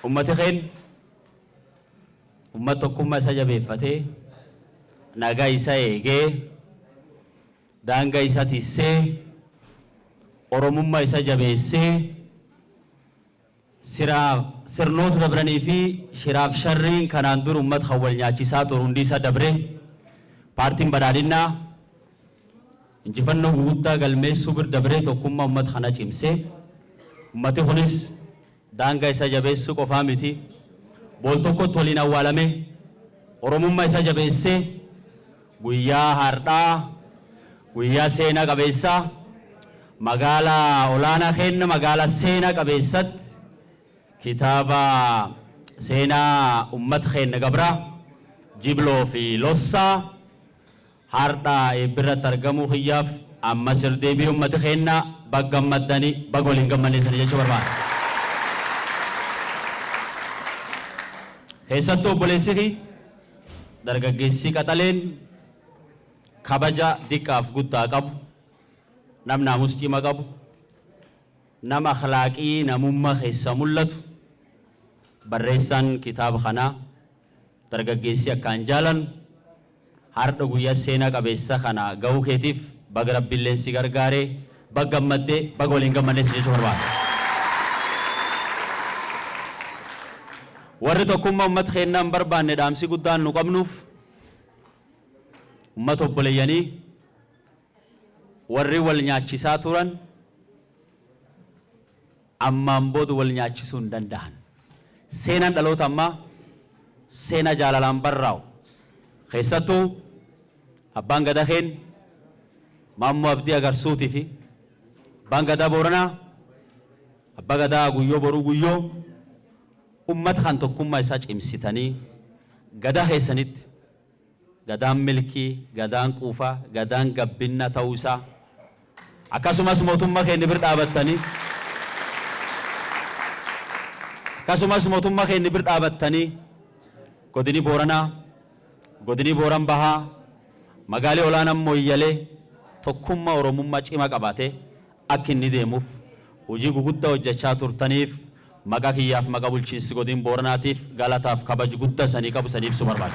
Ummati keenna ummat tokkumma isa jabeeffate, naga isa eege, daanga isa tisse, Oromumma isa jabeesse, siraa sirnoot dabranii fi shiraaf sharriin kanaan dur ummat kan wal nyaachisaa tur hundi isa dabre. Paartiin Badhaadhinnaa injifannoo guguddaa galmeessuu bir dabree tokkumma ummat kana cimse. Ummati kunis. Daanga isa jabeessu qofaa miti bool tokkotti waliin awwaalame oromumma isa jabeesse guyyaa haardhaa guyyaa seena qabeessa magaala olaana keenna magaala seena qabeessat kitaaba seenaa ummat keenna gabra jibloo fi lossaa Hardha eebbirratti argamuu kiyyaaf ammas irdeebii ummati keenna bag gammaddani bag waliin gammanne isini jechuu barbaada. Keessattuu obboleessi kiy dargaggeessi qaxaleen kabaja diqqaaf guddaa qabu, nam naamus cima qabu, nam akhlaaqii namumma kessa mullatu, barreessaan kitaaba kanaa, Dargaggeessi akkaan jaalannu hardha guyya seena qabeessa kana gahuu keetiif baga rabbilleen si gargaare baga gammadde baga waliin gammanne si jechuu barbaada. Warri tokkumma ummata keennaa hin barbaanne dhaamsi guddaan nu qabnuuf ummata obboleyyanii warri wal nyaachisaa turan, Ammaan booda wal nyaachisuu hin danda'an. Seenaan dhaloota ammaa seenaa jaalalaan barraa'u. Keessattuu Abbaan Gadaa keenya Maammoo Abdii Agarsuutii fi Abbaan Gadaa Booranaa Abbaa Gadaa Guyyoo Boruu Guyyoo uummata kan tokkummaa isaa cimsitanii Gadaa keessanitti, Gadaan milkii, Gadaan quufa, Gadaan gabbinna ta'uu isaa akkasumas motumma keenni bir dhaabattani akkasumas motumma keenni bir dhaabattani Godini Booranaa, Godini Booran Bahaa, Magaali Olaanan Moyyale tokkumma Oromumma cima qabate akk inni deemuf hujii gugudda hojjachaa turtaniif maqa kiyyaaf maqa bulchiinsi Godin Booranaatiif galataaf kabaj gudda isanii qabu isanii ibsu barbaada.